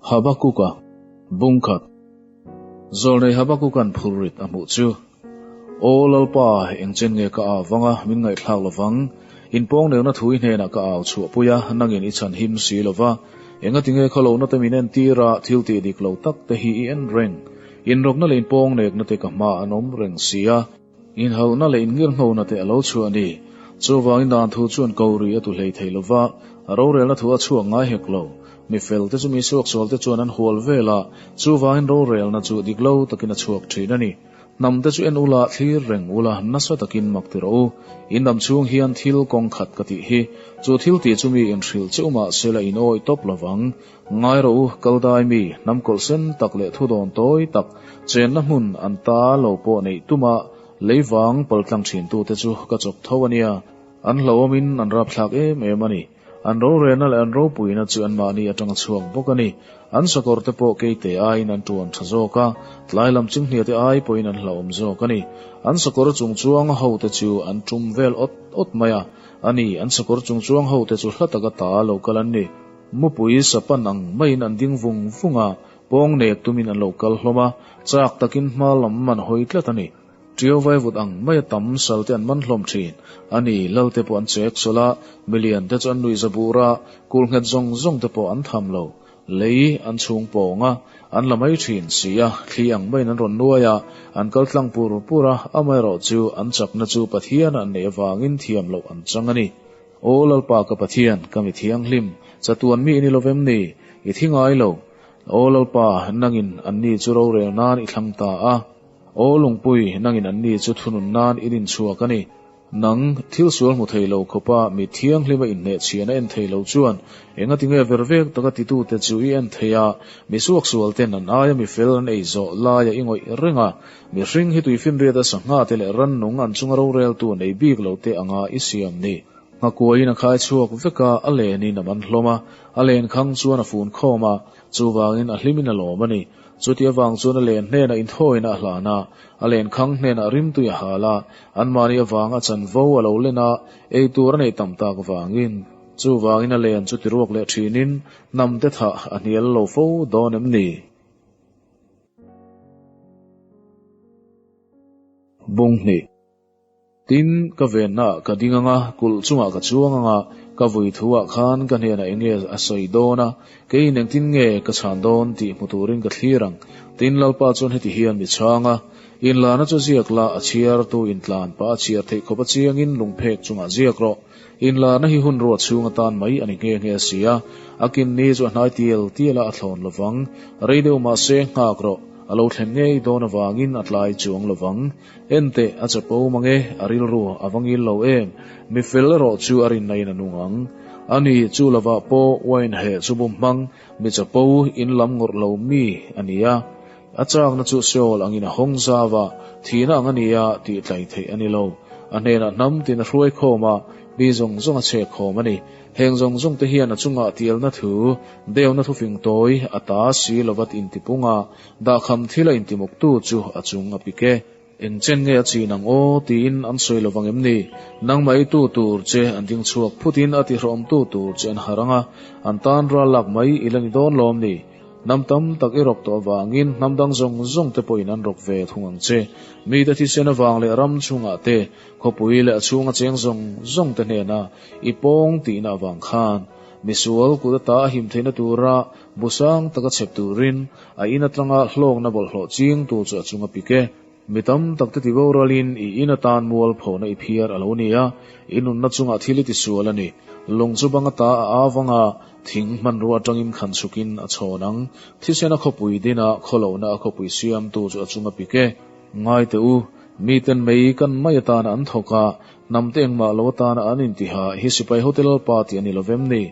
Habakuka bung khat zawl nei Habakuka'n phur rit a hmuh chu, Aw Lalpa, engchen nge ka au vang a, min ngaihthlak lo vang, in pawng neuna thui hnenah ka au chhuah pui a, nangin i chhan him si lo va, engatinge khaw lohnate min en tir a, thil tih dik lo takte hi i en reng, inrawkna leh in pawng neknate ka hmaah an awm reng si a. Inhauhna leh ingir hno na te a lo chhuah a ni. Chuvangin dan thu chuan ko ri a tu hlei thei lo va, a rorelna thu a chhuak ngai hek lo. Mi felte chu mi suaksual te chuan an hual vel a, chuvangin rorelna chu dik lo takin a chhuak thin a ni. Hnam te chu en ula, thlir reng ula, nasa takin mak ti rawh u. I hnam chhung hian thil kawng khat ka tih hi. Chu thil tih chu mi in hrilh cheu mah sela in awi tawp lo vang. Ngai rawh u, Kaldai mi hnam kawlh sen tak leh thudawn tawi tak chenna hmun an ta lo pawh neih tum a, lei vang pal tlang thintu te chu ka chawp tho a nia. An hlauhawmin an rapthlak em em a ni. An rorelna leh an ropuina chu anmahni atanga chhuak bawk a ni. An sakawr te pawh kei te aiin an tuan tha zawk a, tlai lam chunghnia te ai pawhin an hlauhawm zawk a ni. An sakawr chung chuanga ho te chu an tum vel awt awt mai a, a ni, an sakawr chung chuang ho te chu hla taka ta lo kal an ni. Mupui sapan ang maiin an ding vung vung a, pawng nek tumin an lo kal hlawm a, chak takin hma lam an hawi tlat a ni. Tio vai vut ang maia tam salte an man hlawm thin a ni, lalte pawh an chek sawl a, milian te chu an nuihza bur a, kul nghet zawng zawng te pawh an tham lo, lei an chhung pawng a, an la mai thin si a, thli ang maiin an rawn nuai a, an kal tlang pur pur a, amaherawhchu an chakna chu Pathian a an nei avangin thiam loh an chang a ni. Aw Lalpa ka Pathian, ka mi thianghlim, chatuan mi i ni lovem ni? I thi ngai lo. Aw Lalpa, nangin an ni chu rorel nan i thlang ta a. Aw Lungpui, nangin an ni chu thunun nan i din chhuak a ni. Nang, thil sual hmu thei lo khawpa mi thianghlima innehchhian a en thei lo chuan engatinge ver vek taka titute chu i en thei a, misuak sualten an aia mi fel an ei zawh laia i ngawih reng a. Mihring hi tuifinriata sangha te leh rannung an chunga roreltu nei bik lo te anga i siam ni. Nghakua-in a khai chhuak vek a, a lenin a man hlawm a, a len khang chuan a fun khawm a, chuvangin a hlimin a lawm a ni. Chuti avang chuan a len hnena inthawina a hlan a, a len khang hnena a rimtui a hal a, anmahni avanga a chanvo a lo len a, ei tur a neih tam tak vangin. Chuvangin a len chu tiruak leh thinin hnam te thah a hnial lo fo dawn em ni? Bung hni. Tin, ka ve hnah ka ding anga kulh chungah ka chuang anga ka vui thuah khan ka hnenah enge a sawi dawn a, kei in engtin nge ka chhan dawn tih hmu turin ka thlir ang. Tin, Lalpa chuan heti hi an ni chhang a, In lana chu ziak la, a chhiar tu in tlan pa a chhiar theih khawpa chiangin lung phek chungah ziak rawh. Inlarna hi hun ruah chhunga tan mai a ni nghe nghe a si a, a kin ni chu a hnai tial tial a, a thlawn lo vang. Rei deuh mah se nghak rawh, a lo thlen ngei dawn avangin a tlai chuang lo vang. Enteh, a che pawm ang e, a rilru a va ngil lo em? Mi fel erawh chu a rin naiin a nung ang. A ni, chu lovah pawh Wayne he chu bu hmang, mi che po, in lam ngawrh lo mi a ni a. A châkna chu Seol angin a hawng zau a, thihna ang a ni a tih tlai theih a ni lo. A hnenah hnam tin a hruai khawm a, mi zawng zawng a chhek khawm a ni. Heng zawng zawng te hian a chungah tialna thu, deuna thufing tawi, a ta si lo vat inti pung a, dahkham thil a inti muktu chu a chung a pik e. Engchen nge a chin ang aw? tiin an sawi lo vang em ni? Nangmah eitu tur che an ding chhuak phutin a tihrahawmtu tur che an harh ang a, an tan ral lak mai i la ni dawn lawm ni? Hnam tam tak i rawk tawh avangin hnam dang zawng zawng te pawhin an rawk ve thung ang che. Mite thisen avang leh ram chhungah te, khawpui leh a chhunga cheng zawng zawng te hnena i pawng tihna avang khan, misual kut ata a him theihna tura Bu sang taka chhep turin a ina tlanga hlawkna bawlhhlawh ching tur chu a chunga pik e. Mi tam takte ti boralin i ina tan mual phawh na i phiar a lo ni a, i nunna chungah thil i ti sual a ni. Lung chu bang ata a au vang a, thing hmanrua atangin khan chhukin a chhawn ang. Thisena khawpui dinah khaw lohna a khawpui siam tur chu a chunga pik e. Ngai teh u, miten mei kan mai atana an thawk a, hnamte engmah lo atana an inti ha, hi sipai hotel pa ti a ni lovem ni?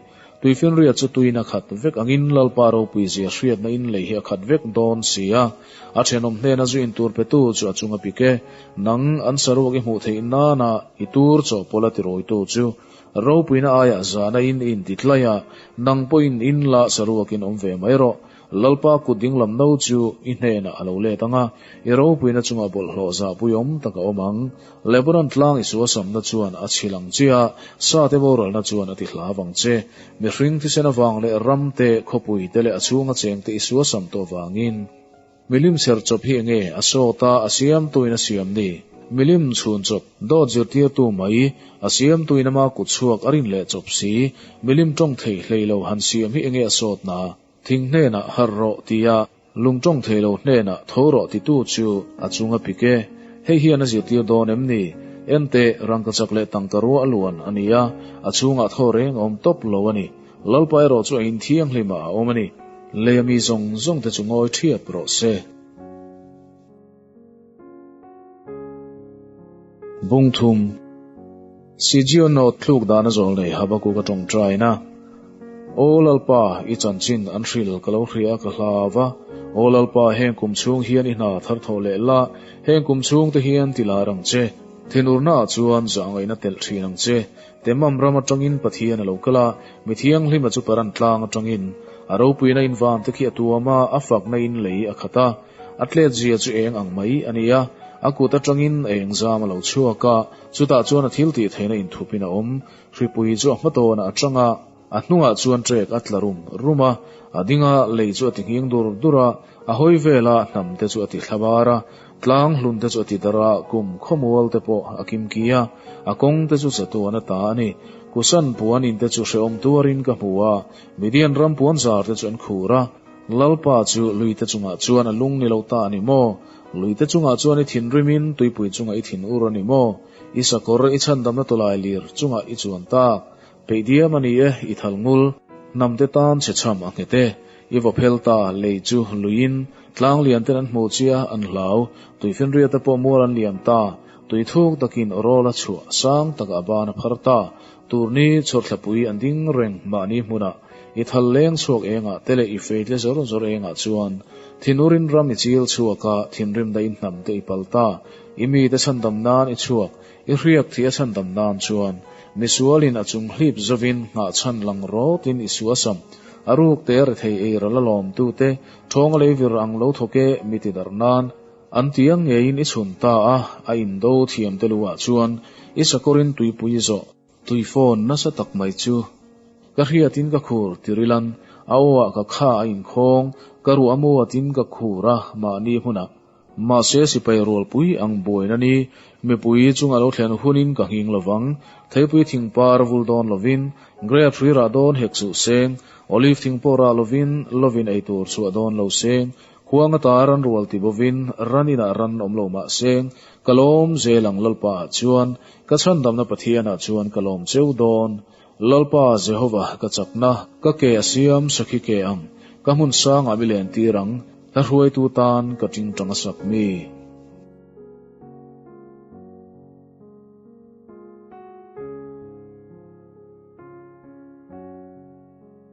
Tuifinriat chu tuin a khat vek angin Lalpa ropui zia hriatna in lei hi a khat vek dawn si a, a thenawm hnena zu in tur petu chu a chunga pik e. Nang an saruak i hmuh theih nana i tur chawhpawlh a ti rawitu chu ropuina aiah zana in i inti tlaih a, nang pawhin in lah saruak in awm ve mai rawh. Lalpa kut ding lam no chu i hnenah a lo let ang a, i ropuina chungah bawlhhlawh zahpui awm tak a awm ang. Lebanon tlang i suasamna chuan a chhil ang che a, sa te voralna chuan a ti hla vang che. Mihring thisen avang leh ram te, khawpui te leh a chhunga cheng te i suasam tawh vangin. Milim serchawp hi enge a sawt a, a siamtuin a siam ni? Milim chhunchawp, dawt zirtirtu mai, a siamtuin ama kutchhuak a rin leh chawp si. Milim tawng thei hlei lo han siam hi enge a sawt na? Thing hnenah har rawh ti a, lung tawng thei lo hnenah tho rawh titu chu a chung a pik e. Hei hian a zirtir dawn em ni? Enteh, rangka chak leh tangka rua a luan a ni a, a chhungah thaw reng a awm tawp lo a ni. Lalpa erawh chu a inthianghlim a a awm a ni. Lei a mi zawng zawng te chu ngawi ṭhiap rawh se. Bung thum, Sijion note thluk dana zawh nei Habakuka tawngtaina, Aw Lalpa, i chanchin an hril ka lo hria ka hlav a, Aw Lalpa, heng kum chhung hian i hna thar thawh leh la, heng kum chhung te hian ti lar ang che, thenurna ah chuan zah ngaihna telh thin ang che, Temam ram atangin Pathian a lo kal a, mi thianghlimna chu Paran tlang atangin a ropuina invan te khi a tuam a, a fakna in lei a khat a. A tlet zia chu eng ang mai a nia, a kut atangin a eng zam a lo chhuak a, chutah chuan a thil tih theihna inthupin a awm. Hripui chu a hma tawnah a chang a, a hnungah chuan trek a tla rum rum a, a dinga lei chu a ti nghing dur dur a, a hawi vela hnam te chu a ti thla var a, tlang hlun te chu a ti dar a, kum khawmual te pawh a kim ki a, a kawng te chu chatuan a ta a ni. Kusan puan in te chu hrehawm tuarin ka hmu a, Midian ram puan zar te chu an khur a, Lalpa chu Luite chungah chuan a lung ni lo ta a ni maw? Luite chungah chuan i thinrimin tuipui chungah i thin ur a ni maw? I sakawr, i chhandamna tawlai lir chungah i chuan tak. Peih diam a ni e, i thal ngul. Hnamte tan che chham a nghet e. I va phel ta, lei chu luiin. Tlang lianten an hmu chia an hlau. Tui finria te pawh mual an liam ta. Tui thuk takin rawla chhuah sang takah ban a phar ta. Turni chhawrthlapui an ding reng mahni hmunah i thal leng chhuak engah te leh i feitle zawr zawr engah chuan Thinurin ram i chil chhuak a, thinrim dahin hnam te i pal ta, i mite chhandam nan i chhuak, i hriak thih a chhandam nan chuan misualin a chung hlip zovin nghah chhan lang rawtin i suasam, a ruk te a re thei ei ral a lawmtu te, thawng a lei vir ang lo thawk e, mi ti darh nan. An ti ang ngeiin i chhun ta a, a in do thiam te luhah chuan i sakawrin tuipui zawh, tui phone nasa tak mai chu. Ka hriatin ka khur ti rilan, a awah ka kha a in khawng, ka ruah maw atin ka khur a mahni hmunah. Mahse sipai rualpui ang buain ani, mipui chunga lo thlen hunin ka nghing lo vang, theipui thing par vul dawn lovin, grape hrira dawn hek suh seng, olive thing pawh rah lovin lovin ei tur chhuah dawn lo seng, Khuang atah ran rual ti bovin raninah ran awm lo mah se, ka lawm zel ang Lalpa ah chuan, ka chhandamna Pathian ah chuan ka lawm cheu dawn. Lalpa Jehova ka chakna, ka ke a siam sakhi ke ang, ka hmun sang ah mi len tir ang, ka hruaitu tan ka tingtang a sak mi.